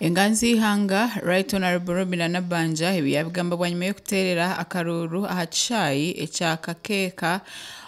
Enganzi z'eihanga Right Honourable Robinah Nabbanja ebi yaabigamba bwanyima y'okuteerera akaruuru aha kishaayi ekya Kakeeka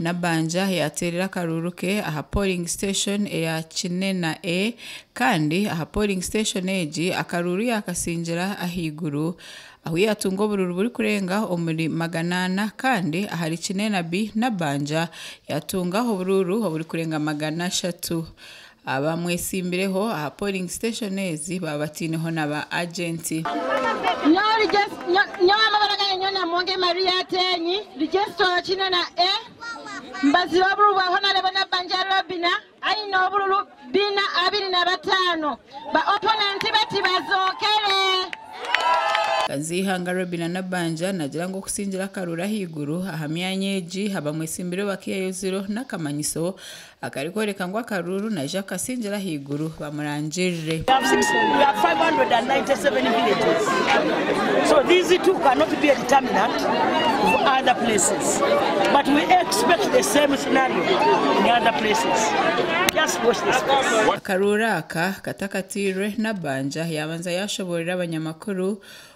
Nabanja yaateerire akaruuru ke aha poringi siteshoni eya Kinena A kandi aha poringi siteshoni egi akaruuru yaakasingira ahaiguru ahu yaatunga oburuuru burikurenga omuri magana ana kandi ahari Kinena B Nabanja yaatunga oburuuru oburikurenga magana ashatu. Abamwetsimbireho aha polling station ezi baba bataineho na ba agenti. Kanziihanga Robina Nabbanja naagira ngu okutsingire akaruuru ahaiguru aha myanya egi abamwetsimbireho bakaihayo ziro n'akamanyiso Akarikworeka ngu akaruuru naija kukasingira ahaiguru bamurangirire. Akaruuru aka katakatairwe, Nabanja yaabanza yaashoboorora abanyamakuru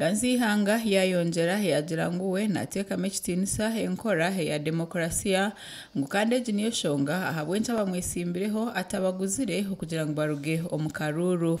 Kansi eihanga yaayongyera yaagira ngu we naateekamu ekitiinisa enkora eya demokarasiya, ngu kandi egi niyo nshonga ahabw'enki abamwetsimbireho atabaguzire okugira ngu baruge omu karuuru.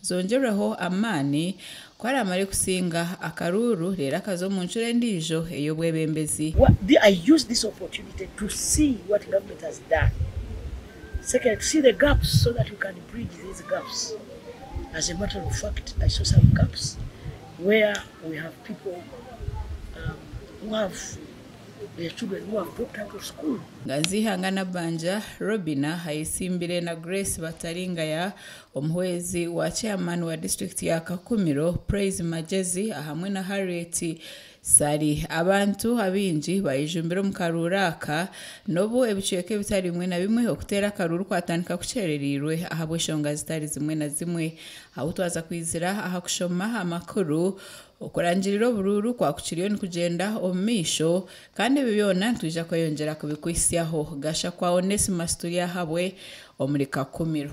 Zongyerweho amaani ku araamare kusinga akaruuru reero akaza omu ncuro endiijo ey'obwebembezi. Nganzihanga Nabanja, Robinah ayetsimbire na Grace Bataringaya Omuhwezi wa Chairman wa District ya Kakumiro, Praise Magyezi ahamwe na Harriet Ssali. Abantu abaingi baijumbire omu karuuru aka n'obu ebicweka ebitari bimwe na bimwe okuteera akaruuru kwatandika kukyerereirwe ahabw'eshonga zitari zimwe na zimwe. Ahu twaza kwizira aha kushoma amakuru okurangirira oburuuru kwa kukiriyo nikugyenda omu maisho kandi ebyo byona nitwija kweyongyera kubikuhitsyaho. Gashakwa Onesmus Turyahabwe omuri Kakumiro.